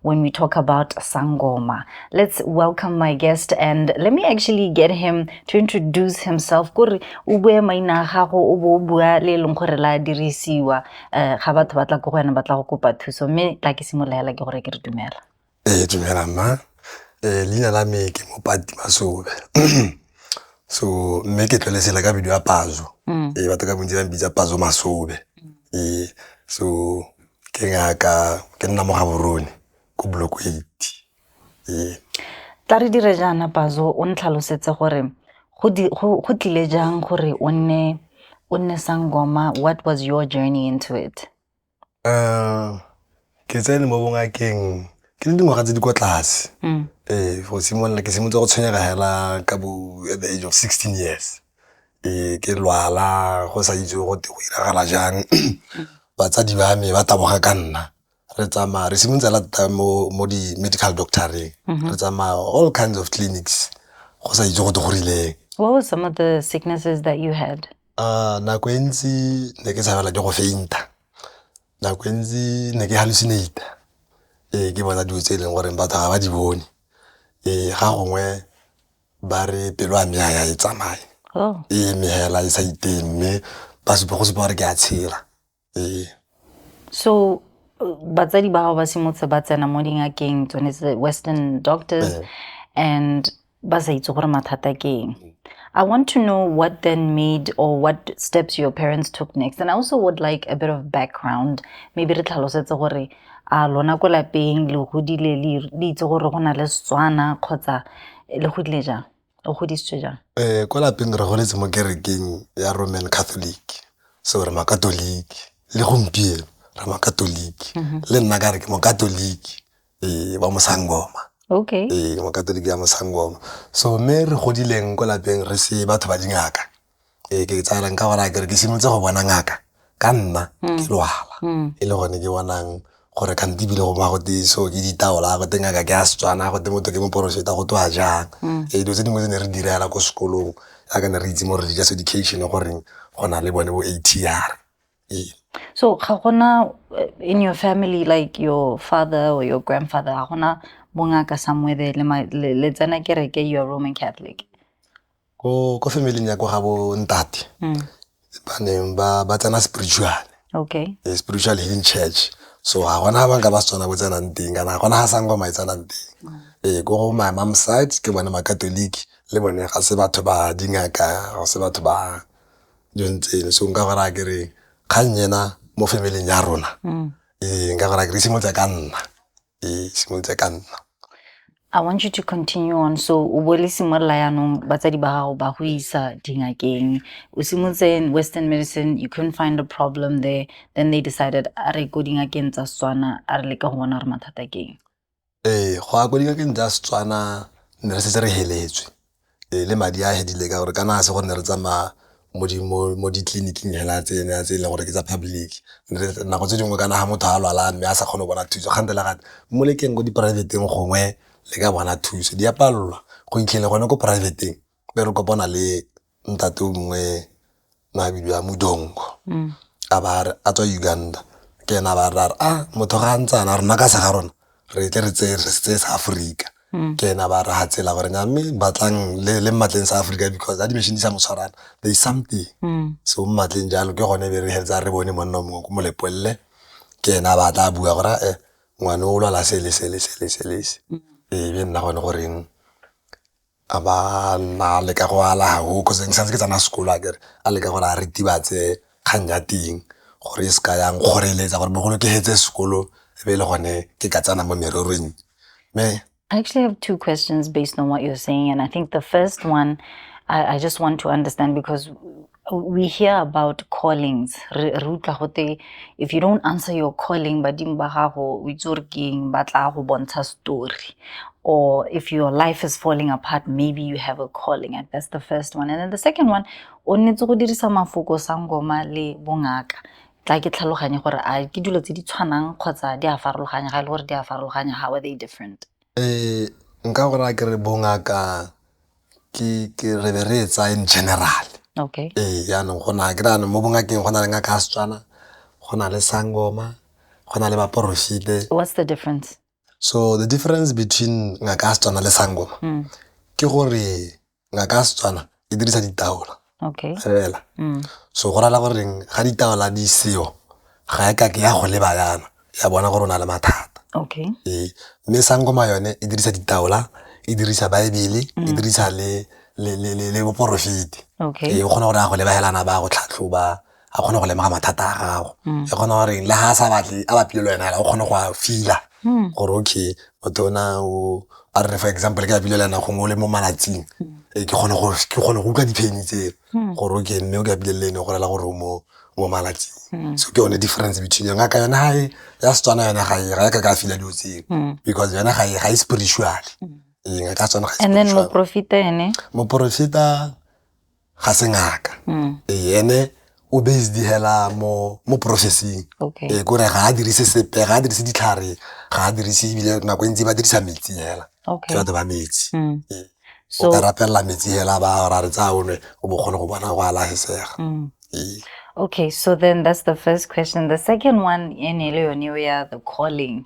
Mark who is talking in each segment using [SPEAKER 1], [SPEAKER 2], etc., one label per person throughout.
[SPEAKER 1] when we talk about Sangoma. Let's welcome my guest and let me actually get him to introduce himself. Kore o bue maina gago o bo bua le leng gore la dirisiwa eh, ga batho ba tla ko go wena ba tla go kopa thuso mme tla ke simolola ke gore ke re dumela. Eh dumela mma.
[SPEAKER 2] Eh leina la me ke Mopati Masobe. so mme ke tlole sela ka video ya pazo mm. e batho ka bontsi ba mpitsa pazo masobe mm. e so Ke ngaka, ke nna mo Gaborone ko block eight, ee.
[SPEAKER 1] Tla re dire jaana Pazo o ntlhalosetse gore go tlile jang gore o nne sangoma, what was your journey into it?
[SPEAKER 2] Ke tsene mo bongakeng ke le dingwaga tse di kwa tlase, ee go simolola ke simolotse go tshwenyega fela ka bo at the age of sixteen years. Ee, ke lwala go sa itse gote go diragala jang batsadi ba me ba taboga ka nna re tsamaya re simolola lata mo di-medical doctor-reng re tsamaya all kinds of clinics go sa itse gote go rileng. What were some of the
[SPEAKER 1] sicknesses that you had? Nako e
[SPEAKER 2] ntsi ne ke tshabela ke go faint-a, nako e ntsi ne ke hallucinate-a ee ke bona dilo tse e leng gore batho ga ba di bone. Ee ga gongwe ba re pelo ya me ya e tsamaye oh. e eme hela e sa iteng mme ba supa go supa gore ke a tshela ee so
[SPEAKER 1] batsadi ba gago ba simotse ba tsena mo dingakeng tsone tse western doctors eh. and ba sa itse gore mathata ke eng I want to know what then made or what steps your parents took next. And I also would like a bit of background. Maybe re tlhalosetse gore A lona ko lapeng le godile le itse gore go na le Setswana kgotsa le godile jang? O godisitswe jang? Um ko lapeng re
[SPEAKER 2] goletse mo kerekeng ya Roman Catholic so re makatoliki le gompieno re makatoliki mhm. le nna ka re ke mokatoliki ee ba mosangoma okay ee
[SPEAKER 1] mokatoliki ya
[SPEAKER 2] mosangoma so mme re godileng ko lapeng re se batho ba dingaka ee ke tsaya nka bona kere ke simolotse go bona ngaka ka nna mm. ke lwala mm. e le gone ke bonang gore kante ebile go ba gote so ke ditaola gote ngaka ke a setswana gote motho ke moporofeta go twa jang mm. ee dilo tse dingwe tse ne re direla ko sekolong yaka ne re itse mo religious education goreng go na le bone bo a t r ee
[SPEAKER 1] so ga gona eh, in your family like your father or your grandfather ga gona bongaka somewhere there le tsena kereke you're roman catholic ko
[SPEAKER 2] ko family ya ko ga bo ntate mm. ba neng ba ba tsena spiritual okay eh,
[SPEAKER 1] spiritual healing
[SPEAKER 2] church so ga gona ba nka ba tsona bo tsenang teng kana ga gona ga sangwa ma tsenang teng mm. eh ko go my mom side ke bone ma catholic le bone ga se batho ba dingaka ga se batho ba jontseng so nka gora ke re kgang yena mo family ya rona mm. eh nka gora ke re simotse ka nna e simolotse ka nna I want
[SPEAKER 1] you to continue on. So, o bo le simolola yaanong batsadi ba gago ba go isa dingakeng. O simolotse in Western medicine, you couldn't find a problem there. Then they decided a re ko dingakeng tsa Setswana, a re leka go bona gore mathata ke eng. ee go ya
[SPEAKER 2] ko dingakeng tsa setswana ne re setse re heletswe Ee, le madi a fedile ka gore kana ga se gore ne re tsamaya mo ditleliniking fela tse e leng gore ke tsa public. Nako tse dingwe kana ga motho a lwala mme a sa kgone go bona thuso kgante le kgante mo lekeng ko di-private-eng gongwe le ka bona thuso. Di a palelwa go fitlhele gone ko private-eng be re kopana le ntate o mongwe na bidiwa modongo mm. a ba a tswa uganda ke ena ba ra a motho ga a ntsana rona ka sa ga rona re tle re tseye re setse sa aforika mm. ke ena ba ra ga tsela gore nya mme batlang le mmatleng sa aforika because a di-machine di sa motshwarana there is something mm. so mmatleng jalo ke gone be re heletsa re bone monna mongwe ko molepolele ke ena ba tla bua gore e ngwane o lwala sele sele sele selese ebe nna gone goreng a ba na a leka go ala hahoo cause ne ke santse ke tsena sekolo a kere a leka gore a ritibatse kgang ya teng gore e se ka yang kgoreletsa gore bogolo ke fetse sekolo e be e le gone ke ka tsena mo mererong mme I actually have two
[SPEAKER 1] questions based on what you're saying. And I think the first one, I, I just want to understand because we hear about callings re utlwa gote if you don't answer your calling badimo ba gago o itse gore ke eng ba tla go bontsha story or if your life is falling apart maybe you have a calling and that's the first one and then the second one o nnetse go dirisa mafoko sangoma le bongaka tla ke tlhaloganye gore a ke dilo tse di tshwanang kgotsa di a farologanya ga e le gore di a farologanya how are they different um
[SPEAKER 2] nka gore a ke re bongaka ke re be re e tsaya in general okay ee
[SPEAKER 1] jaanong go na ke
[SPEAKER 2] rano mo bongakeng go na le ngaka ya setswana go na le sangoma go na le baporofite what's the difference
[SPEAKER 1] so the
[SPEAKER 2] difference between ngaka ya setswana le sangoma mm. ke gore ngaka ya setswana e dirisa ditaola okay fela
[SPEAKER 1] mm.
[SPEAKER 2] so go rala goreng ga ditaola di seo ga e kake ya go leba yana ya bona gore o na le mathata okay ee
[SPEAKER 1] mme
[SPEAKER 2] sangoma yone e dirisa ditaola e dirisa baebele e mm. dirisa le le le le boporofeti okay e kgona gore
[SPEAKER 1] a go lebahelana
[SPEAKER 2] ba go tlhatlhoba a kgone go lemoga mathata a gago mm. e kgona gore le ga a sa batle a batlile le wena fela o kgone go a fila mm. gore okay motho o na o a re for example ke apile le wena gongwe o le mo malatsing mm. ee, ke kgone go utlwa dipheni tseo gore o ke mme o ke apile le ene go rela gore o mo mo malatsing so ke yone difference between yone ka yona gae ya setswana yone ga e ga e ka ka fila dilo tseo because yone ga e spiritual eng ka tsone
[SPEAKER 1] ga e spiritual moporofita
[SPEAKER 2] ga se ngaka mm. ee ene o based hela mo mo processing okay. e kore ga
[SPEAKER 1] a dirise
[SPEAKER 2] sepe ga a dirise ditlhare ga a dirise ebile nako e ntsi ba dirisa metsi hela okay. ke batho ba metsi
[SPEAKER 1] mm.
[SPEAKER 2] e. so, o ka
[SPEAKER 1] rapelela metsi
[SPEAKER 2] hela ba ra re tsaya o ne o bo kgone go bona go alagesega mm. e. okay
[SPEAKER 1] so then that's the first question the second one e ne le yone o ya the calling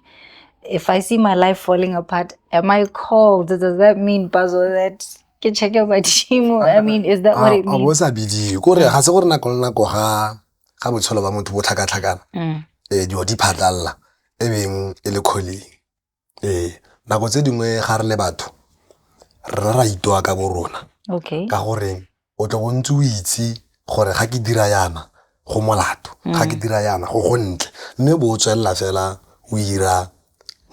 [SPEAKER 1] if i see my life falling apart am i called does that mean bazo that ke check ya badimo i mean is that what it means o sa bidiwe ko
[SPEAKER 2] re ga se gore nako le nako ga ga botshelo ba motho bo tlhakatlhakana mm. eh dilo di phatlalla e beng e le kgoleng ee nako tse dingwe ga re le batho re ra itoa ka bo rona okay ka gore o tle go ntse o itse gore ga ke dira yana go molato ga ke mm. dira yana go go ntle mme bo o tswelela fela o ira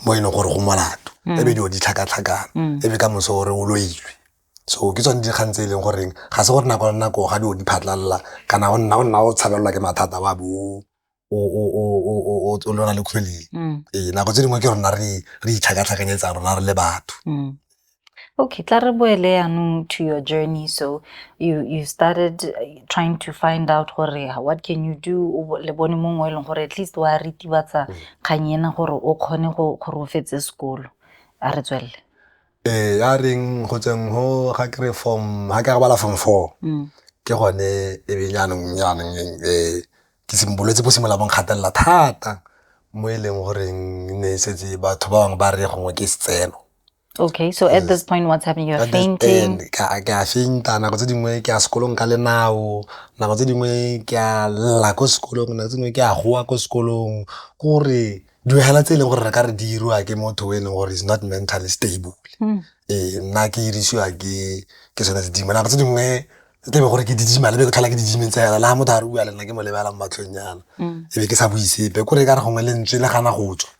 [SPEAKER 2] mo e leng gore go molato mm. ebe dilo di tlhakatlhakana mm. ebe ka moso gore o loilwe so ke tsone dikgang tse e leng goreng ga se gore nako le nako ga dilo di phatlhalela kana o nna o nna o tshabelelwa ke mathata wa bo o lona le kgwele mm. ee nako tse dingwe ke rona re re itlhakatlhakanyetsa rona re le batho mm.
[SPEAKER 1] Okay, tla re boele yaanong to your journey. So you you started uh, trying to find out gore what can you do le bone mongwe e leng gore at least wa ritibatsa mm. kgang ena gore o kgone go gore o fetse sekolo. A re tswelele. Ee, ya
[SPEAKER 2] reng go tseng go ga kry form ga ke a bala form four mm. ke gone e be jaanong jaanong um ke bolwetse bo simolola bo nkgatelela thata mo e leng goreng ne e setse batho ba bangwe ba re gongwe ke setseno Okay, so
[SPEAKER 1] at this point, what's happening? You're fainting. Ke a fainta,
[SPEAKER 2] nako tse dingwe ke a sekolong ka lenao, nako tse dingwe ke a lla ko sekolong, nako tse dingwe ke a goa ko sekolong. Kore Dihela tse e leng gore re ka re di iriwa ke motho o e leng gore is not mentally stable hmm. ee nna ke irisiwa ke ke sone se dingwe nako tse dingwe e tlebe gore ke didima lebe ke tlhola ke didimeng tsa yana le ga motho a re bua le nna ke mo lebala mo matlhong yana hmm. e be ke sa buisepe kore e ka re gongwe lentswe le gana go tswa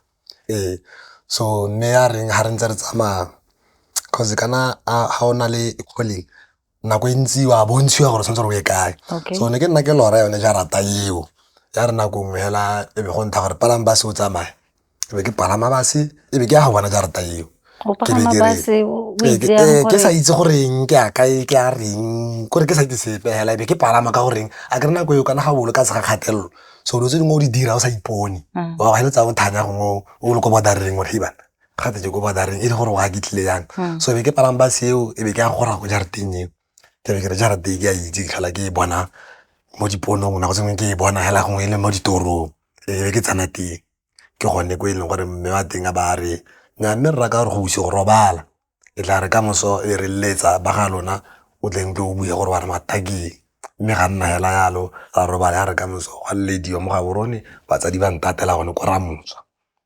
[SPEAKER 2] ee so mme ya reng ga re ntse re tsamaya cause kana ga o na le calling nako e ntsi wa bontshiwa gore tshwanetse gore o ye kae so ne ke nna ke lora yone ja rata eo ya re nako nngwe hela e be go ntha gore palang base o tsamaya e be ke palama base e be ke ya go bona ja rata eo ke sa itse goreng ke a kae ke a reng kore ke sa itse sepe hela ebe ke palama ka goreng a kere nako eo kana ga bolo ka tshega kgatelelo so dilo tse dingwe o di dira o sa ipone mm. wa go heletsa o thanya gongwe o le ko bodareng gore ibana gate je ko badareng e le gore wa ke tlile yang hmm. so be ke palang bus eo e be ke ya gora go jarateng eo ke be ke re jarateng ke a itse ke tlhola ke e bona mo diponong nako tsengwe ke e bona hela gongwe e le mo ditorong e be ke tsana teng ke gone ko e leng gore mme wa teng a ba re nya mme rra ka gore go buse go robala e tla re ka moso e re letsa ba ga lona o tleng tlo o bue gore wa re mathakeng mme ga nna hela yalo ra robala ya re ka moso gwa lediwa mo ga borone batsadi ba ntatela gone ko ramotswa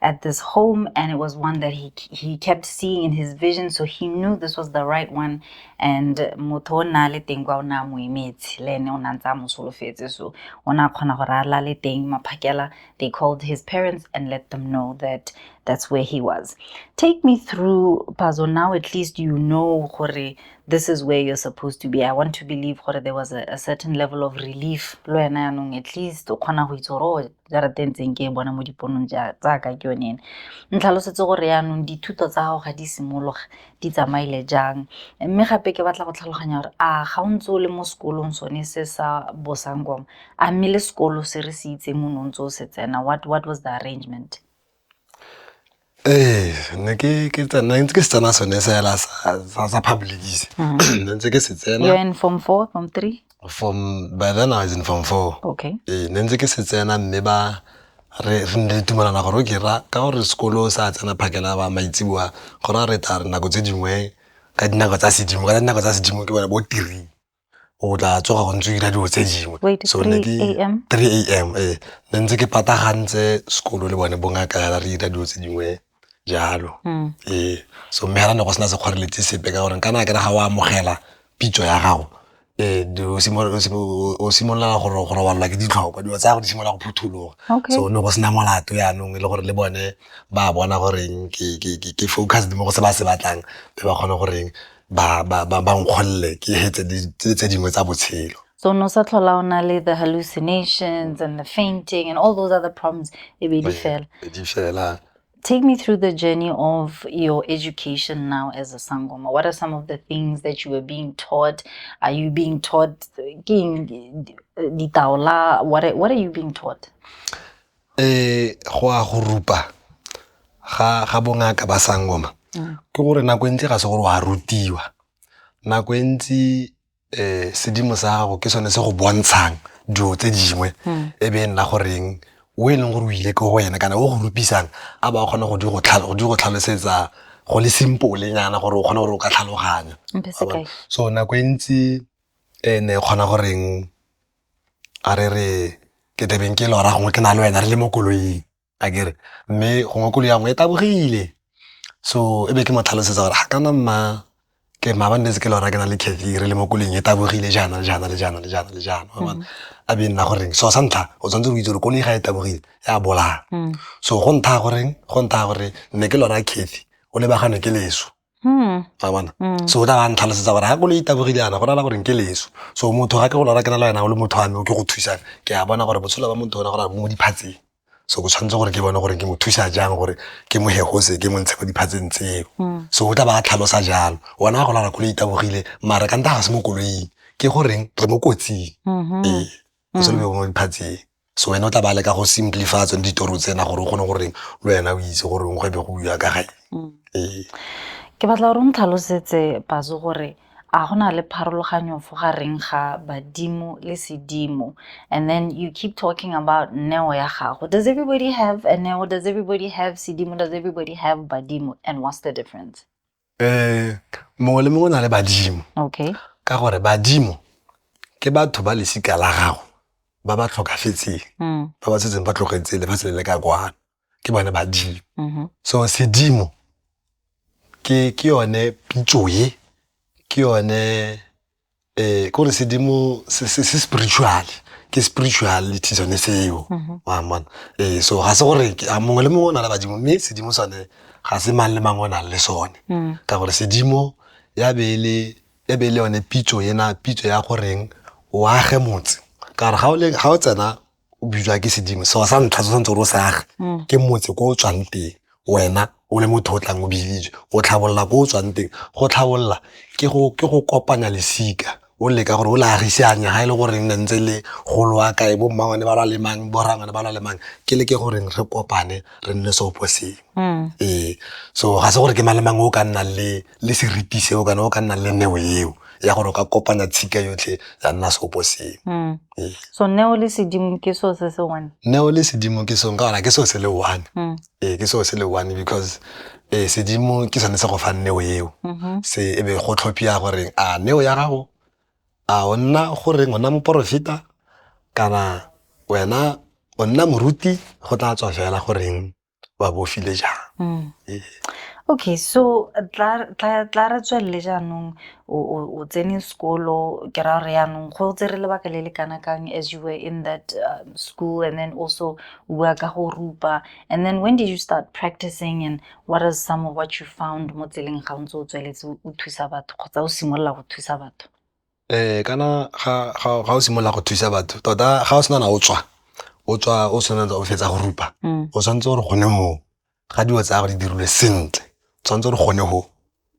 [SPEAKER 1] at this home and it was one that he he kept seeing in his vision so he knew this was the right one and motho o nna le teng kwa o ne a mo emetse le ene o ne a ntse a mo solofetse so o ne a kgona gore a lale teng maphakela they called his parents and let them know that that's where he was take me through pazo now at least you know gore this is where you're supposed to be i want to believe gore there was a, a certain level of relief lo ena yanong at least o kgona go itse gore oh, jarata e ntseng ke e bona mo diponong tsaka ke yone ene ntlhalosetse gore yaanong dithuto tsa gago ga di simologa di tsamaile jang mme gape ke batla go tlhaloganya gore a ga o ntse o le mo sekolong sone se sa bosangwang a mme le sekolo se re se itseng o ne o ntse o se tsena what, what was the arrangement Ee,
[SPEAKER 2] ne ke ke tsena ntse ke se tsena sone sa hela sa sa- sa public se ne ntse ke se You're tsena in form
[SPEAKER 1] four, form three? from by
[SPEAKER 2] then I was in form four Okay. ee ne ntse ke
[SPEAKER 1] se tsena
[SPEAKER 2] mme ba re re ne re dumalana gore o ke ra ka gore sekolo o sa tsena phakela ba maitseboa go ra re tla re nako tse dingwe ka dinako tsa sedimo ka dinako tsa sedimo ke bone bo tiri o tla tsoga go ntse o 'ira dilo tse dingwe three
[SPEAKER 1] A_M ee,
[SPEAKER 2] ne ntse ke patagantse sekolo le bone bo ngaka jaana re 'ira dilo tse dingwe jalo ee. So mme jaana ne go sena sekgoreletsi sepe ka gore kana kere ga o amogela pitso ya gago o simolola go robala ke ditlhoko, dilo tsa gago di simolola go phuthuloga so go ne go sena molato jaanong e le gore le bone ba bona goreng ke focused mo go se ba se batlang ba kgone goreng. ba ba ba ba nkgolle ke hetse di- tse tse dingwe tsa botshelo So no sa tlhola o
[SPEAKER 1] na le the hallucinations and the fainting and all those other problems e be di fela. di fela Take me through the journey of your education now as a sangoma. What are some of the things that you were being taught? Are you being taught ke eng, eh, ditaola? What are, what are you being taught?
[SPEAKER 2] Go a go rupa ga bongaka ba sangoma ke gore nako e ntsi ga se gore o a rutiwa, nako e ntsi sedimo sa gago ke sone se go bontshang dilo tse dingwe e be e nna goreng o e leng gore o ile ko go wena kana o go rupisang a ba kgona go di go tlhalosetsa go le simple nyana gore o kgone gore o ka tlhaloganya. So nako e ntsi ne kgona goreng. a re re ke tle beng ke lora gongwe ke na le wena re le mo koloing a kere mme gongwe koloi ya nngwe e tabogile so e be ke mo tlhalosetsa gore ga kana mma ke mma ba ntse ke lora ke na le cathy re le mo koloing e tabogile jaana le jaana le jaana le jaana le jaana mm-hmm. a be nna goreng so sa ntlha o tshwanetse go itse gore koloi ga e tabogile ya bolaya mm. so go ntha goreng go ntha gore nne ke lora cathy o lebagane ke leso Hmm. tsa bona hmm. so o tla ba ntlhalosetsa gore ga koloi tabogile yana go rala gore ke leso so motho ga ke go lora ke na le wena o le motho wa me o ke go thusang ke a bona gore botshelo ba motho ona gore mo diphatseng so go tshwanetse gore ke bone gore ke mo thusa jang gore ke mo hegose ke mo ntshe mo diphatseng tseo hmm. so o tla ba tlhalosa jalo ona wa go lora koloi tabogile mara ka nta ga se mo koloing ke goreng re mo kotsing mm-hmm. ee go se le mo diphatseng So wena o tla ba leka go simplify tsone ditoro tsena gore o kgone goreng le wena o itse gore go ebe go buiwa ka gae mm. ee
[SPEAKER 1] ke batla gore o ntlhalosetse pazo gore a go na le pharologanyo fo gareng ga badimo le sedimo and then you keep talking about neo ya gago does everybody have a neo does everybody have sedimo does everybody have badimo and what's the difference um
[SPEAKER 2] mongwe le mongwe o na le badimo okay ka
[SPEAKER 1] gore badimo
[SPEAKER 2] ke batho ba lesika la gago ba ba tlhokafetseng mm. ba ba setseng ba tlogetse lefatshe le le ka kwano ke bone badimo mm-hmm. so sedimo ke ke yone pitso ye ke yone eh kore sedimo se se se spiritual ke spirituality sone seo Mhm. wa mona eh so ga se gore ke- a mongwe le mongwe o na le badimo mme sedimo sone ga se mang le mang o nang le sone Mm. ka gore sedimo ya be e le ya be e le yone pitso ena pitso ya goreng o age motse ka gore ga o le- ga o tsena o bitswa ke sedimo seo sa ntlha se tshwanetse gore o se age mm. ke motse ko o tswang teng wena o le motho o tlang o biditswe go tlhabolola ko o tswang teng go tlhabolola ke go kopanya lesika o leka gore o le agisanya ga e le goreng ne ntse le golo wa kae bo mmawane ba lwa lemang bo rangwane ba lwa lemang ke leke goreng re kopane re nne seopo sengwe Hmm. ee so ga se gore ke mang le mang o ka nnang le le seriti seo kana o ka nnang le neo eo ya gore o ka kopanya tshika yotlhe ya nna seopo seo hmm. ee. so
[SPEAKER 1] neo le sedimo ke seo se se one neo le sedimo ke
[SPEAKER 2] seo ka gona ke seo se le one hmm. ee ke seo se le one because ee sedimo ke sone se go fang neo eo mm-hmm. se ebe go tlhophia goreng a neo ya gago a o nna goreng o nna moporofeta kana wena o nna moruti go tla tswa fela goreng ba bofile jang mm. ee. okay
[SPEAKER 1] so tla re tswelele jaanong o tsene sekolo ke ra gore yaanong go tse re lebaka le le kana kang as you were in that um, school and then also bua ka go rupa and then when did you start practicing and what is some of what you found mo tseleng ga o ntse o tsweletse o thusa batho kgotsa o simolola go thusa batho Kana
[SPEAKER 2] ga o simolola go thusa batho tota ga o sena na o tswa o tswa o tshwanetse o fetsa go rupa o tshwanetse gore gone moo ga dilo tsa gagwe di dirilwe sentle o tshwanetse gore gone go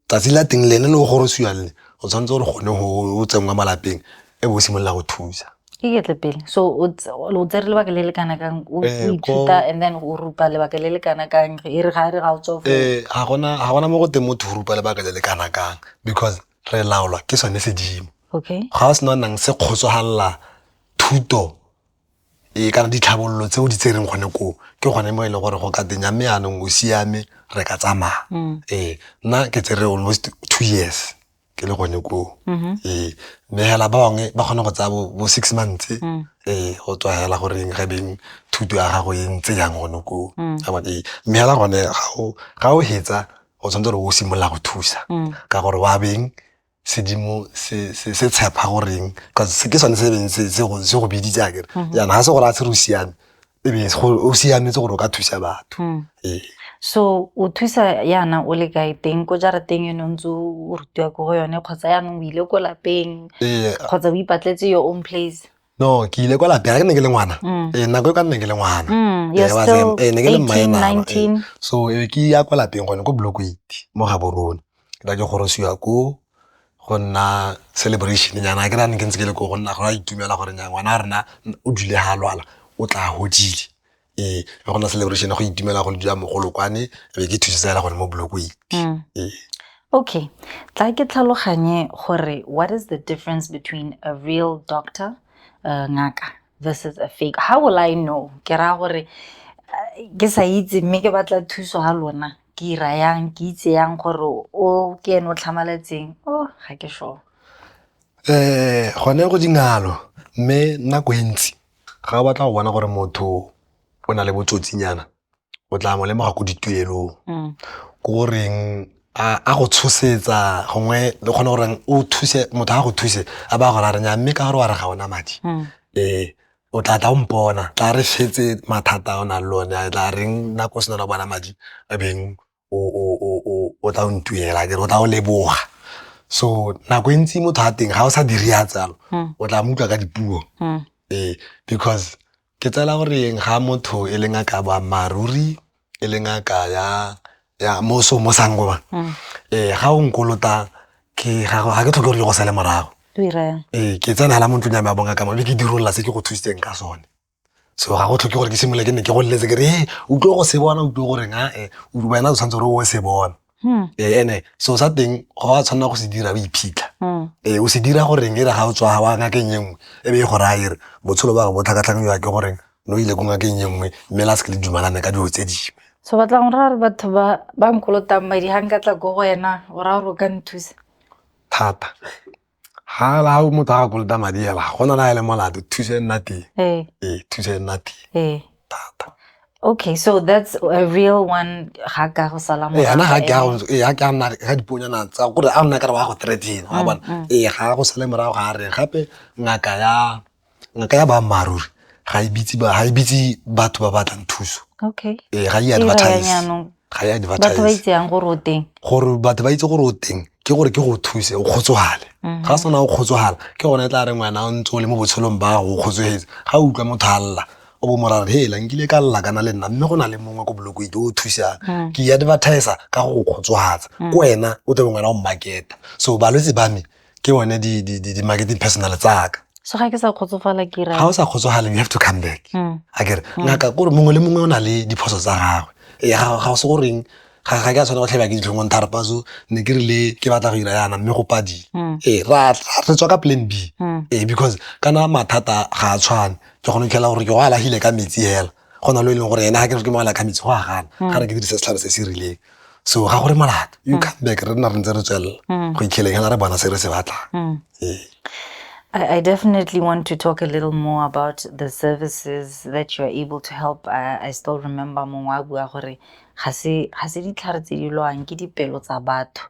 [SPEAKER 2] tsatsi la teng lene le go gorosiwa le o tshwanetse gore gone go o tsenngwa malapeng e bo o simolola go thusa iketle pele
[SPEAKER 1] so o tsere lebaka le le kana kang o ithuta and then o rupa lebaka le le kana kang e re ga e re ga o tsofo ga gona ga
[SPEAKER 2] gona mo go teng motho o rupa lebaka le le kana kang because re laolwa ke sone sedimo okay ga o sena o
[SPEAKER 1] nang se
[SPEAKER 2] kgotsogalla thuto e kana ditlhabololo tse o di tsereng gone koo ke gone mo e leng gore go ka tenya mme anong o siame re ka tsamaya mm. ee nna ke tsere almost two years ke le gone koo mm-hmm. ee mme hela ba bangwe ba kgona go tsaya bo six months mm. ee go tswa hela goreng ge beng thuto ya gago e ntse yang gone koo mm. ee mme hela gone ga o hetsa o tshwanetse gore o simolola go thusa mm. ka gore wa beng sedimo se tshepa goreng ke sone se beng se go biditse akere mm-hmm. jaana ga se gore a se re o siame ebe o siametse gore o ka thusa batho mm. ee so
[SPEAKER 1] o thusa yana o le kae teng ko jarateng eno ntse o rutiwa ko go yone kgotsa yaanong o ile ko lapeng kgotsa o ipatletse your own place no ke ile kwa
[SPEAKER 2] lapeng ga ke ne ke le ngwana mm. eh, nako e ka nne ke le ngwana mm, eh,
[SPEAKER 1] eh, ne ke le mmaenaa so ke ya
[SPEAKER 2] kwa lapeng gone ko block eight mo ga borone ke ra ke gorosiwa ko go nna celebration nyana ke rane ke ntse ke le ko go nna go ra itumela gore nya ngwana a rena o dule ga lwala o tla godile ee ga gona celebration go itumela go dira mogolo kwane be ke thusetsa fela gone mo blokweng mm. ee okay
[SPEAKER 1] tla ke tlhaloganye gore what is the difference between a real doctor uh, ngaka versus a fake how will i know ke raya gore uh, ke sa itse mme ke batla thuso ga lona ke ira yang ke itse yang gore o ke ene o tlhamaletseng o oh, ga ke sure um gone
[SPEAKER 2] go dingalo mme nako e ntsi ga o batla go bona gore motho o na le botsotsinyana o tla mo lemoga ko dituelong mm. ko goreng a go tshosetsa gongwe le kgone goreng o thuse motho a go thuse a ba go rarenya mme ka gore wa re ga ona madi mm. ee o tla tla o mpona tla re fetse mathata o na le one tla reng nako o sena bona madi a beng o tla o ntuela kere o tla o leboga so nako e ntsi motho a teng ga o sa dire ya tsalo hmm. o tla mo utlwa ka dipuo hmm. ee because ke tsela gore eng ga motho e leng a ka boammaaruri e leng a ka ya ya mo so mo sangoba hmm. ee ga o nkolota ke ga ke tlhoke gore ke go sale morago ee ke tsena la mo ntlong ya me a bonga ka mo be ke dirolola se ke go thusitseng ka sone so ga go tlhoke gore ke simolole ke ne ke go leletse ke re e o tlo go se bona o tlo goreng a e wena o tshwanetse gore o se bona hmm. ee ene so sa teng ga wa tshwanela go se dira o iphitlha hmm. ee o se dira goreng e re ga o tswa ga wa ngakeng e nngwe e be e gore a ere botshelo ba bo tlhakatlhakanyiwa ke goreng no ile ko ngakeng e nngwe mme la se ke le dumalane ka dilo tse dingwe so batla go raya gore
[SPEAKER 1] batho ba nkolotang madi ga nka tla ko go wena o raya gore o ka nthusa thata
[SPEAKER 2] ga o motho a kolota madi ela ga gona na ele molato thuso e nna teng ee thuso e nna teng thata okay so
[SPEAKER 1] that's a real one ga ka go sala mo ana ga ke ga
[SPEAKER 2] ke nna ga diponyana tsa gore a nna ka re wa go threaten wa bona ee ga go sale morago ga re gape ngaka ya nka ya boammaaruri ga e bitse ba- ga e bitse batho ba batlang thuso okay ee ga e Ira
[SPEAKER 1] ya advertise jaanong.
[SPEAKER 2] ga e batho ba advertise
[SPEAKER 1] itseyang gore o teng gore batho ba itse gore
[SPEAKER 2] o teng ke gore ke go thuse o kgotsogale Mhm. ga sena o kgotsogala ke gone e tla reng wena o ntse o le mo botshelong ba gago o kgotsogetse ga o utlwa motho a lla o bo morare hela nkile ka lla kana le nna mme go na le mongwe ko bolokoite o thusang Mm. ke advertisa ka go go kgotsogatsa ko wena o tebe ngwana o marketa so balwetse ba me ke one di-marketing personal tsaka so ga ke sa kgotsofala
[SPEAKER 1] ke ga o sa kgotsofaleng you have
[SPEAKER 2] to come back hmm. a kere hmm. ngaka kore mongwe le mongwe o na le diphoso tsa gagwe ee, ga o se goreng ga ke a tshwana go tlhabja ke ditlhongong tharpa so ne ke rile ke batla go ira yana mme go padi hmm. ee re tswa ka plan b ee because kana mathata ga a tshwane ke gone tlhela gore ke go alagile ka metsi hela go na lo e leng gore ena ga ke re ke mo ala ka metsi go a gana ga re ke dirise setlhare se se rileng so ga gore molato you mm. come back re nna re ntse re tswelela mm. go ikheleng hela re bona se re se batlang mm. ee. I,
[SPEAKER 1] I definitely want to talk a little more about the services that you are able to help. I, I still remember mongwe a bua gore ga se ditlhare tse di lwang ke dipelo tsa batho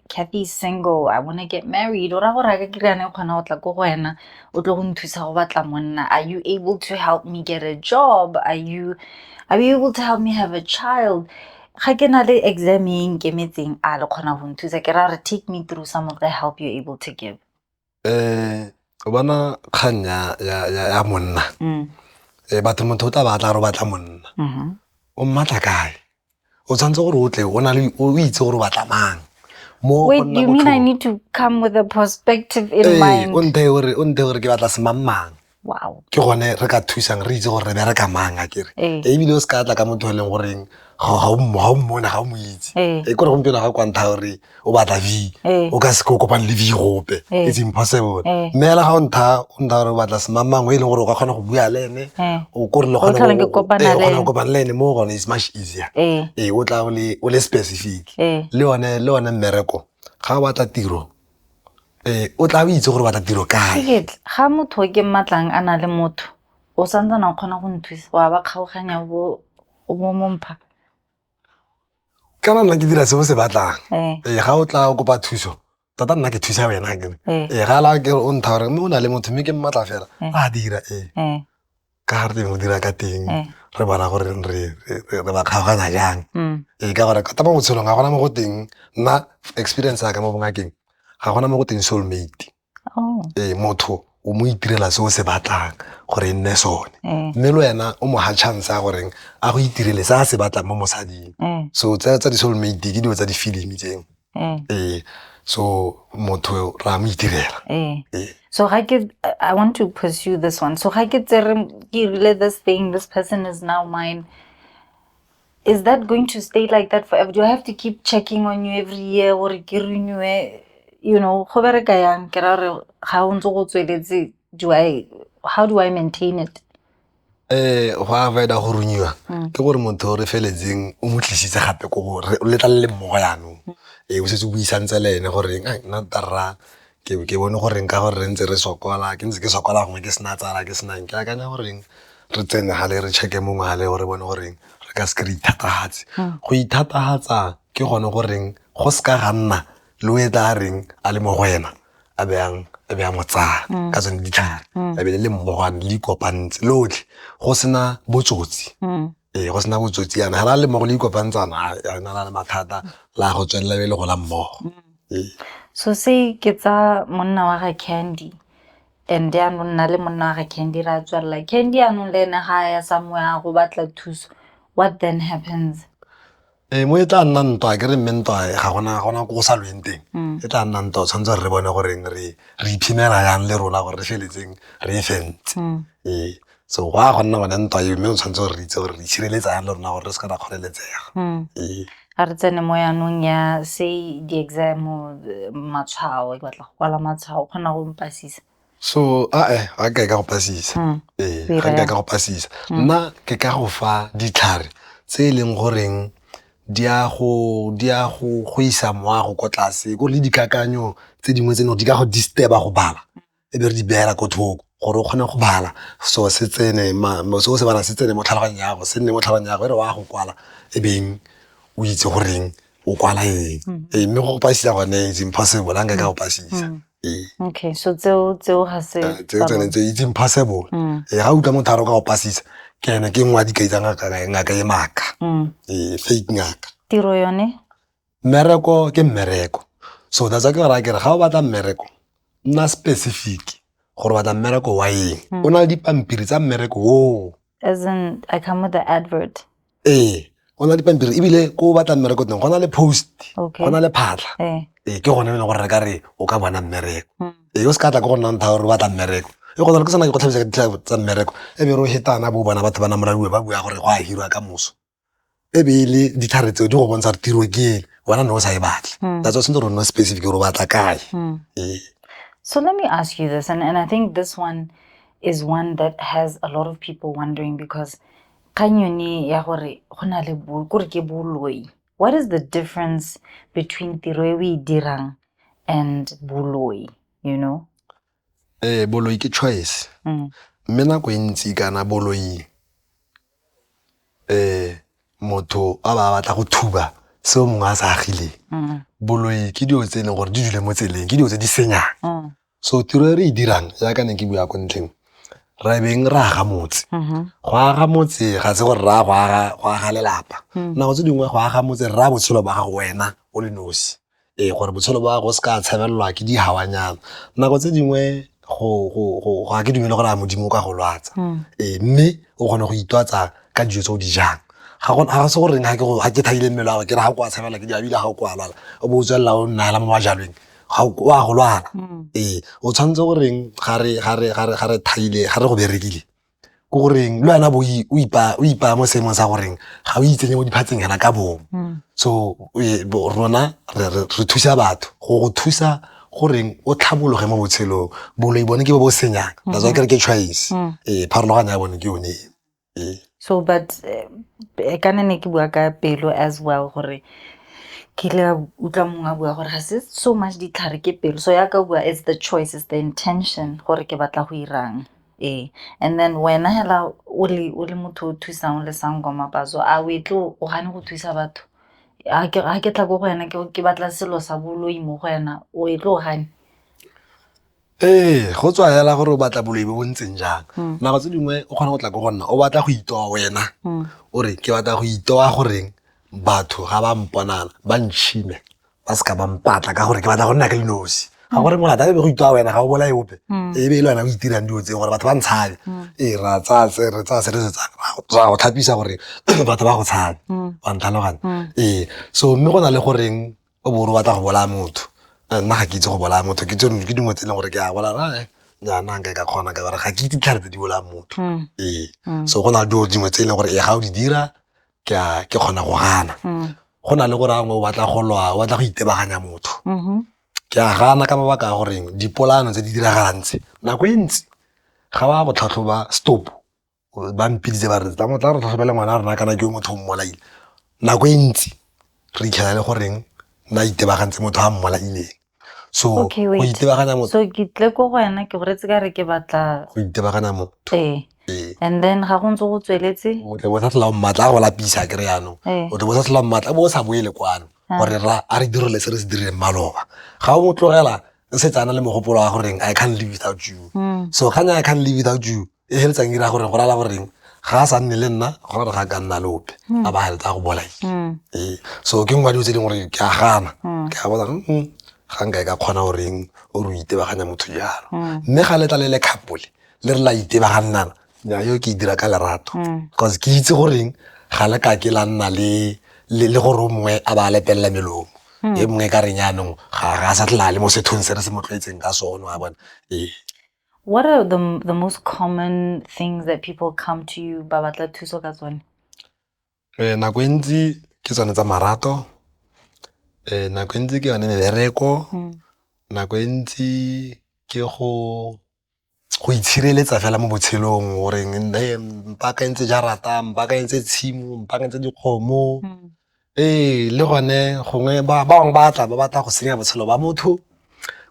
[SPEAKER 1] Cathy is single, I wanna get married. Ora gore ka kry ane kgona go tla ko go wena, o tlo go nthusa go batla monna. Are you able to help me get a job? Are you are you able to help me have a child? Ga ke na le exam e nkemetseng a le kgona go nthusa ke ra re take me through some of the help you're able to give. um
[SPEAKER 2] o bona kgang ya monna mm. eh, batho motho o tla batla re batla monna mm-hmm. o mmatla kae o tshwanetse gore o tle o itse gore o batla mang Wait, you
[SPEAKER 1] mean I need to come with a perspective in hey, eh, mind? O nthe gore
[SPEAKER 2] ke batla semangmang. wow ke gone
[SPEAKER 1] re ka
[SPEAKER 2] thusang re itse gore re bereka mang a kere ee. ee, ebile o se ka tla ka motho e leng goreng ga o mmona ga o mo itse ee. e kore gompieno ga kwantha gore o batla v ee. o ka se ko kopane le v gope ee. it's impossible mme fela ga o ntha o ntha gore o batla semamang o e leng gore o ka kgona go bua le ene o kore le kgona go kopana le ene mo gone is much easier ee o tla o le specific le one le one mmereko ga o batla tiro ee o tla o itse gore batla tiro kae Sekete, ga motho o ke
[SPEAKER 1] mmatlang a na le motho o sa ntsana o kgona go nthusa wa ba kgaoganya o bo o bo mompha
[SPEAKER 2] kana nna ke dira se o se batlang ee ee ga o tla o kopa thuso tota nna ke thusa wena akere ee ee ga la ke re o ntha gore mme o na le motho mme ke mmatla fela Eh. a dira ee ee ka ga re teng go dira ka teng eh. re bona gore re ba kgaoganya jang mm. ee ka gore kata mo botshelong ga gona mo go teng nna experience ya ka mo bongakeng ga gona mo go teng soulmate oh. ee motho o mo itirela se o se batlang gore e nne sone eh. mme le wena o mo ga chance ya goreng a go itirele se a se batlang mo mosading eh. so tsa di-soulmate ke dilo tsa di-filimi tseo Eh. ee so motho ra mo itirela Eh. Eh. So ga ke
[SPEAKER 1] I want to pursue this one. So ga ke tsere ke rile this thing, this person is now mine. Is that going to stay like that forever? Do I have to keep checking on you every year or ke renew you know, go bereka yang ke ra re ga o ntse go tsweletse do I how do I maintain it? eh
[SPEAKER 2] go a vaeda go runyiwa mm. ke gore motho re feletseng o mo tlisitse gape ko gore le tla le mmogo yanong mm. e eh, o setse o buisantse le ene gore eng nna tarra ke ke bone goreng ka gore re ntse re sokola ke ntse ke sokola gongwe ke sena tsala ke senang ke akanya goreng re tsene ga le re checke mongwe ga le gore bone goreng re ka seke re ithatagatse mm. go ithatagatsa ke gone goreng go seka ga nna le o e tla reng a le mo go wena a be a mo tsaya mm. ka tsone ditlhare mm. a be le le mmogwane le ikopantse lotlhe go sena botsotsi mm. ee go sena botsotsi yana ga la le mmogo le ikopantsana yana la le mathata la go tswelela be le go la mmogo ee. so
[SPEAKER 1] se ke tsa monna wa ga candy and anong nna le monna wa ga candy ra tswelela candy anong le ene ga ya samoya go batla thuso what then happens ee
[SPEAKER 2] mo e tla nna ntwa ke re mme ntwa ga gona ga gona ko go sa lweng teng mm. e tla nna ntwa tshwanetse re bone goreng re re iphimela yang le rona gore re feletseng re e fentse mm. ee so go a go nna bone ntwa eo mme o tshwanetse gore re itse gore re itshireletsa yang le rona gore re se ka ra kgoleletsega mm. ee a re
[SPEAKER 1] tsene mo yanong ya se di-exam matshwao ke batla go kwala matshwao o kgona go mpasisa so ae
[SPEAKER 2] ga nka e ka go pasisa mm. ee ga nka e ka go pasisa mm. nna ke ka go fa ditlhare tse e leng goreng di a go di a go go isa moago ko tlase ko le dikakanyo tse dingwe tse no di ka go disturba go bala e be re di beela ko thoko gore o kgone go bala so se tsene se o se bala se tsene mo tlhaloganyang yago se nne mo tlhaloganyang yago e re wa go kwala e beng o itse goreng o kwala eng mm-hmm. ee mme go pasisa gone it's impossible a nka ka go pasisa mm-hmm. ee. okay so
[SPEAKER 1] tseo tseo ga se eh, tseo tsone tse it's
[SPEAKER 2] impossible mm. ee ga utlwa motho a roka go pasisa ke ene ke nngwe a dikai tsa ngaka ngaka e maaka mm. ee fake ngaka tiro yone
[SPEAKER 1] mmereko
[SPEAKER 2] ke mmereko so that's ke ra kere ga o batla mmereko nna specific gore batla mmereko wa eng mm. o na le dipampiri tsa mmereko oo as in i
[SPEAKER 1] come with the advert ee go
[SPEAKER 2] na dipampiri ebile ko o batla mmereko teng go na le post go na le phatlha ee. ee ke gone e leng gore re ka re o ka bona mmereko hmm. ee o se ka tla ko go nnang thao gore o batla mmereko e go tsala ke sana ke go tlhabisa ka ditlha tsa mmereko e be re o hetana bo bona batho ba na moradiwe ba bua gore go a hirwa ka moso e be e le ditlhare tseo di go bontsha gore tiro ke ele wena ne o sa e batle hmm. that's why sentse gore nna specific gore o batla kae hmm. ee.
[SPEAKER 1] so let me ask you this and, and i think this one is one that has a lot of people wondering because Kgang yone ya gore go na le kore ke boloi, what is the difference between tiro e o e dirang and boloi, you know? Ee,
[SPEAKER 2] boloi ke choice. Mm. Mme nako e ntsi kana boloi eh motho a ba batla go thuba seo mongwe a sa agileng. Mm. Boloi ke dilo tse e leng gore di dule mo tseleng, ke dilo tse di senyang. Mm. so tiro e re e dirang jaaka ne ke bua ko ntlheng re beng re aga motse mm-hmm. go aga motse ga se gore raya go aga lelapa mm. nako tse dingwe go aga motse raya botshelo ba gago wena o le nosi ee gore botshelo ba gago se ka tshabelelwa ke digawanyana nako tse dingwe go ga ke dumele gore a modimo o ka go lwatsa mm. ee mme o kgone go itwatsa ka dijo tse o di jang ga se goreng ga ke thaile mmele wa ke re ga o kwa tshabela ke diabile ga o kwa lwala o bo o tswelela o nnaela mo bajalweng ga o a go lwala mm. ee o tshwanetse goreng ga re thaile ga re go berekile ko goreng le wena bo o ipaya mo seemong sa goreng ga o itsenye mo diphatseng yana ka bong mm. so e, rona re thusa batho go go thusa goreng o tlhabologe mo botshelong boloi bone ke bo bo senyang that's why mm-hmm. ke re ke choice mm. ee pharologano ya bone ke yone eh. so
[SPEAKER 1] but eh, eh, ka ne ne ke bua ka pelo as well gore ke ile utlwa mongwe a bua gore ga se so much ditlhare ke pelo so ya ka bua it's the choice it's the intention gore ke batla go irang ee and then wena hela o le o le motho o thusang o le sang kwa mapazo a o etle o gane go thusa batho a ke a ke tla go go wena ke ke batla selo sa boloi mo go wena o etle o gane Ee,
[SPEAKER 2] go tswa fela gore o batla boloi bo bo ntseng jang. Mm. Nako tse dingwe o kgona go tla ko go nna o batla go itoa wena mm. o re ke batla go itoa goreng batho ga ba mponana ba ntšhime ba seka ba mpatla ka gore ke batla go nna ka dinosi ga gore molata e be go itoa wena ga o bolae ope mm. e be e le wena o itirang dilo tseo gore batho ba ntshabe ee ra tsaya se re tsaya se re se tsaya go tlhapisa gore batho ba go tshabe wa ntlhalogana ee so mme go na le goreng o bo o batla go bolaya motho eh, nna ga ke itse go bolaya motho ke tsone ke dingwe tse e leng gore ke a bolaya eh, nyaana nka ka kgona ka gore ga ke itse ditlhare tse di bolayang motho mm. ee mm. so go na le dilo dingwe tse e leng gore e ga o di dira ke kgona go gana mm. go na le gore angwe o batla go lwa o batla go itebaganya motho mm-hmm. ke a gana ka mabaka a goreng dipolano tse di diragalang tse nako e ntsi ga ba botlhatlhoba stop ba mpiditse ba re tla mo tla re tlhokomela ngwana rena kana ke yo motho o mmolaile nako e ntsi re itlhela le goreng na itebagantse motho a mmolaileng so okay, go itebaganya motho so ke tle ko go wena
[SPEAKER 1] ke goretse ka re ke batla go itebaganya motho
[SPEAKER 2] ee ee and then
[SPEAKER 1] ga go ntse go tsweletse o tle bo sa tlhola mmatla
[SPEAKER 2] a go lapisa ke re yanong o tle bo sa tlhola mmatla bo o sa boele kwano gore ra a re direle se re se dirileng maloba ga o mo tlogela setsana le mogopolo wa goreng i can't live without you so kgang ya i can't live without you e feletsang ira gore go rala goreng ga a sa nne le nna go gore ga ka nna lope hmm. a ba heletsa go bolai hmm. ee. so ke nngwe dilo tse ding gore ke a gana hmm. ke a bona hmm, ga nka e ka kgona goreng o re itebaganya motho jalo mme ga letla le le kgapole le re la itebagannana nya yo ke e dira ka lerato bcause ke itse goreng ga le ka ke la nna le gore o mongwe a ba lepelela melomo e mongwe ka reng yanong ga a sa tlala le mo sethong se re se mo tlwaetseng ka sone wa bona ee
[SPEAKER 1] What are the, the most common things that people come to you ba batla thuso ka tsone? Eh
[SPEAKER 2] nako ntsi ke tsone tsa marato. Eh nako ntsi ke yone mebereko. Hmm. Nako ntsi ke go go itshireletsa fela mo botshelong gore mpaka ntse ja rata mpaka ntse tshimo mpaka ntse dikgomo hmm. ee le gone gongwe ba bangwe ba tla ba batla go senya botshelo ba motho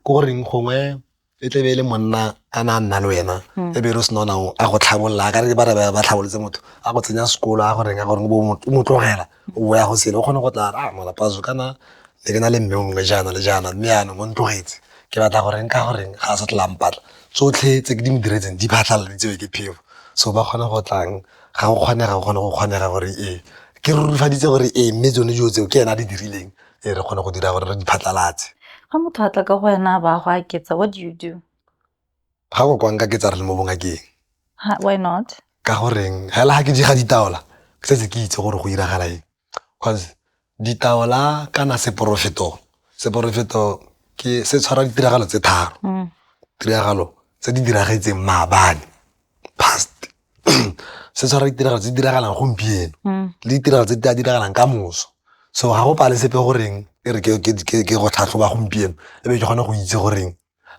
[SPEAKER 2] ko goreng gongwe e tlebe e le monna a na nna le wena hmm. e be re sena nao a go tlhabolola a ka re ba re ba tlhabolotse motho a go tsenya sekolo a go reng a gore o mo tlogela o boya go sele o kgone go tla a malapaso kana le ke na le mme o mongwe jaana le jaana mme yanong o ntlogetse ke batla go reng ka go reng ga a sa tlampatla tsotlhe tse ke di mo diretseng di phatlhaladitsewe ke phefo so ba kgone go tlang ga go kgonega go kgone go kgonega gore ee ke rurufaditse gore ee mme tsone dilo tseo ke ena a di dirileng e re kgone go dira gore re di phatlalatse
[SPEAKER 1] ga motho a
[SPEAKER 2] tla
[SPEAKER 1] ka go wena
[SPEAKER 2] ba
[SPEAKER 1] go aketsa what do you do ga
[SPEAKER 2] go kwang ka ketsa re le mo bongakeng why not
[SPEAKER 1] ka goreng hela
[SPEAKER 2] ga ke di ga ditaola ke setse ke itse gore go iragala eng cause ditaola kana seporofeto seporofeto ke se tshwara ditiragalo tse tharo mm. tiragalo tse di diragetseng maabane past se tshwara ditiragalo tse di diragalang gompieno mm. le ditiragalo tse di a diragalang ka moso so ga go pale sepe goreng e re ke go tlhatlhoba gompieno e be ke kgone go itse goreng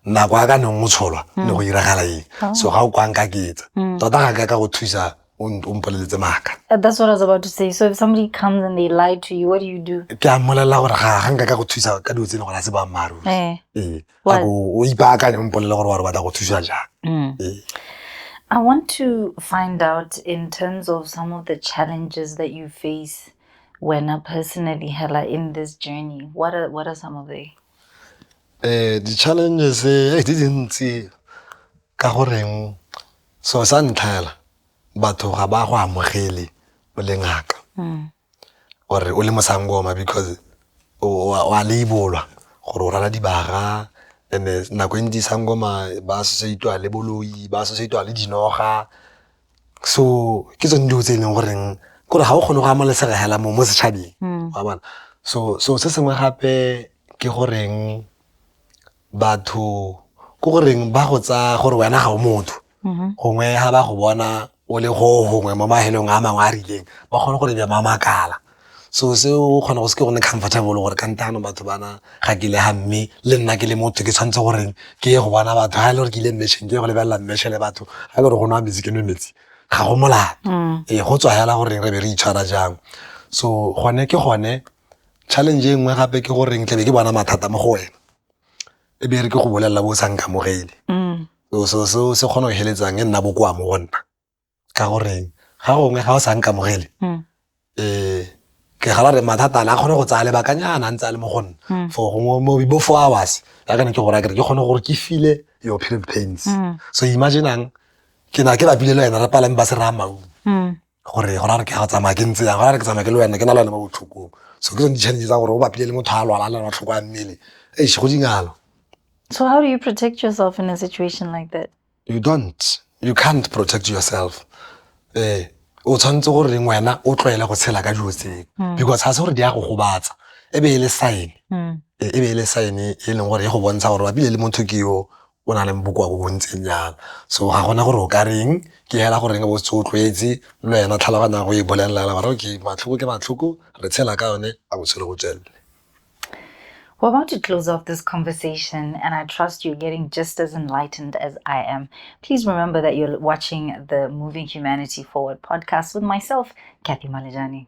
[SPEAKER 2] nako a ka neng o tsholwa ne go mm. iragala eng oh. so ga o kwang ka ketsa mm. tota ga ka ka go thusa o mpoleletse maaka uh, that's what i was about to say
[SPEAKER 1] so if somebody comes and they lie to you what do you do ke a mmolelela gore ga
[SPEAKER 2] ga nka ka go thusa ka dilo tse e leng gore a se boammaaruri ee eh. eh. What?
[SPEAKER 1] o ipaakanye
[SPEAKER 2] mpolele gore wa re batla go thusa jang mm. ee.
[SPEAKER 1] I want to find out in terms of some of the challenges that you face when a personally hella in this journey. What are what are some of the eh
[SPEAKER 2] the challenges eh di dintsi ka goreng so sa ntlhela batho ga ba go amogele o le ngaka. Mm. or-e o le mosangoma because o a label-wa gore o rwala dibaga and-e nako e ntsi sangoma ba associate-wa le boloi, ba associate-wa le dinoga so ke tsone dilo tse e leng goreng ke gore ga o kgone go ama lesela fela mo mo setšhabeng wa bona. So selo se sengwe gape ke goreng batho ke goreng ba go tsaya gore wena ga o motho mm-hmm. gongwe ga ba go bona o le go gongwe mo mahelong a mangwe a rileng ba kgone gore bja mamakala so seo o kgona go se ke go ne comfortable gore ka ntano batho bana ga ke le ga mme le nna ke le motho ke tshwanetse goreng ke ye go bona batho ga e le gore ke ile mmešeng ke ye go lebelela mmeshe le batho ga e le gore go nwa metsi ke nwe metsi ga go molato mm. ee go tswa fela goreng re be re itshwara jang so gone ke gone challenge e nngwe gape ke goreng tlabe ke bona mathata mo go wena e be re ke go bolelela bo sa nkamogele mm. so seo se kgona go heletsang e nna bokoa mo go nna ka goreng ga gongwe ga o sa nkamogele um ke gala re mathata a kgone go tsaya lebakanyana a ntse a le mo go nna mm. for gongwe mo bo four hours ya kana ke gore a kere ke kgone gore ke file your period pains so imaginang ke na ke lapile le wena re palame ba se raya maungo gore go ra re ke ga tsamaya ke ntse yang go ra re ke tsamaya ke le wena ke na le wena mo botlhokong so ke tsone di-challenge tsa gore o bapile le motho a lwala a le matlhoko a mmele eish go dingalo so how do
[SPEAKER 1] you protect yourself in a situation like that you don't
[SPEAKER 2] you can't protect yourself eh o tshwanetse gore reng wena o tlwaele go tshela ka dilo tseo hmm. because ga se gore di ya go gobatsa e be e le sign hmm. e be e le sign e leng gore e go bontsha gore bapile le motho ke yo o na leng bokoa bo bo ntseng jang. So ga gona gore o ka reng ke hela goreng o se o tlwaetse le wena tlhaloganya go e bolelela hela gore okay matlhoko ke matlhoko re tshela ka yone a botshelo go tswelele.
[SPEAKER 1] We're about to close off this conversation, and I trust you're getting just as enlightened as I am. Please remember that you're watching the Moving Humanity Forward podcast with myself, Kathy Malejane.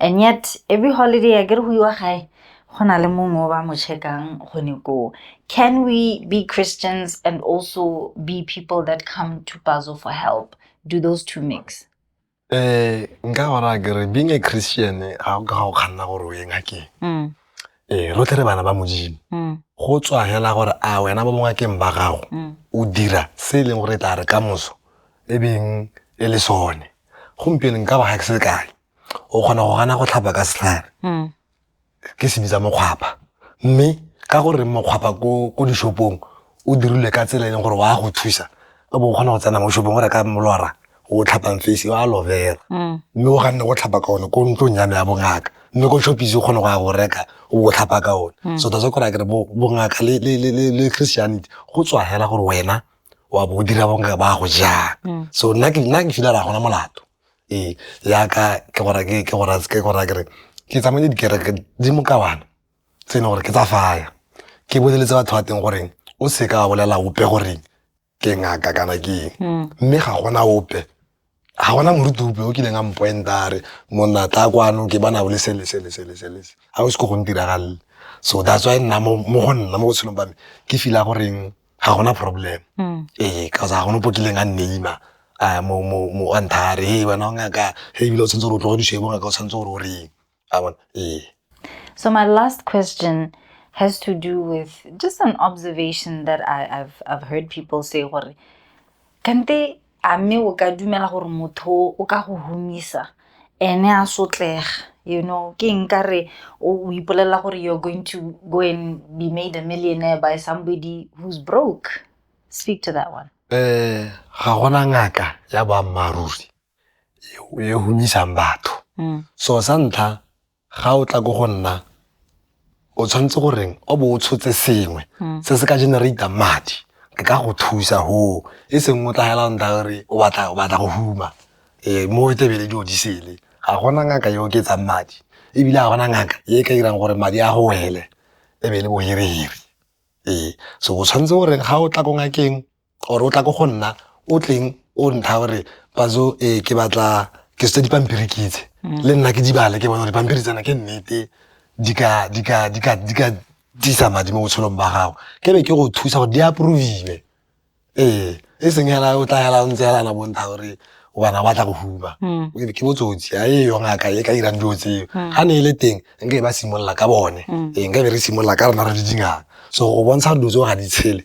[SPEAKER 1] And yet every holiday a kere go iwa gae go na le mongwe o ba mo checkang gone koo can we be christians and also be people that come to pazo for help do those two mix um nka gona
[SPEAKER 2] kere being a christian ga o ka ga o kganna gore o ye ngakeng mm. ee rotlhe re bana ba modimo mm. go tswa fela gore a wena ba bongakeng ba gago mm. o dira se e leng gore e tla re ka moso e beng e le sone gompieno nka ba ga ke se kae o kgona go gana go tlhapa ka setlhare hmm. ke se bitsa mokgwapa mme ka gore mokgwapa ko dishopong o dirilwe ka tsela e leng gore wa go thusa o bo o kgona go tsena mo shopong o reka molora o tlhapang face wa aloe vera hmm. mme o ganne go tlhapa ka one ko ntlong ya me ya bongaka mme ko shopise o kgone go ya go reka o bo o tlhapa ka one hmm. so that's why kore a kere bongaka le christianity go tswa hela gore wena wa bo o dira bonka ba go jang mm. so nna ke nna ke fila ra gona molato ee yaka ke gora ke ke gora ke gora ke re ke tsamaye dikereke di mo ka bana tse ne gore ke tsa faya ke boleletse batho ba teng goreng o se ka bolela ope goreng ke ngaka kana ke mm. mme ga gona ope ga gona moruti ope o kileng a mpoenta a re monna tla kwano ke bana bo le sele sele sele sele ga o se ko go ntiragalle so that's why nna mo go nna mo botshelong ba me ke feel-a goreng ga gona problem mm. ee ka ga gone po kileng a nneima um mo a nthare e wena o ngaka e ebile o tshwanetse gore o tlogodišebo ngaka o tshwanetse gore o reng I want eh. So
[SPEAKER 1] my last question has to do with just an observation that I, have I've heard people say gore kante a me o ka dumela gore motho o ka go humisa ene a sotlega you know ke nka re o ipolelela gore you're going to go and be made a millionaire by somebody who's broke speak to that one eh ga
[SPEAKER 2] gona ngaka ya boammaaruri e humisang batho mm. so sa ntlha ga o tla ko go nna o tshwanetse goreng o bo o tshotse sengwe mm. se se ka generata madi ke ka go thusa ho e seng o tla nta gore o batla go huma um mo e tebele di odisele ga gona ngaka e oketsang madi ebile ga gona ngaka e ka dirang gore madi a go wele e be le bohereheri ee so o tshwanetse gore ga o tla ko ngakeng or o tla ko go nna o tleng o ntha gore pazo e ke batla ke setse dipampiri ke itse mm. le nna ke di bale ke bone gore dipampiri tsena ke nnete di ka disa madi mo botshelong ba gago ke be ke go thusa gore di approviwe ee e seng hela o tla hela o ntse helana bontha gore bana ba tla go huma mm. ke botsotsi a e yong aka e ka irang dilo tseo mm. ga ne e le teng nka e ba simolola ka bone ee nka be re simolola ka rona re di dingaka so go bontsha gore dilo tseo ga di tshele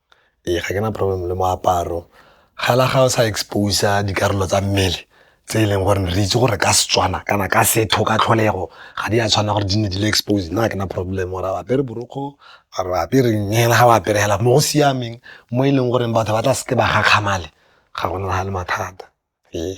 [SPEAKER 2] Ee, ga ke na problem le moaparo fela ga o sa expose-a dikarolo tsa mmele tse e leng gore re itse gore ka Setswana kana ka setho ka tlholego ga di a tshwanela gore di nne di le exposed, nna ga ke na problem gore a o apere borokgwe or o apere eng fela ga o apere fela mo go siameng mo e leng gore batho ba tla seke ba gakgamala ga go na le mathata ee.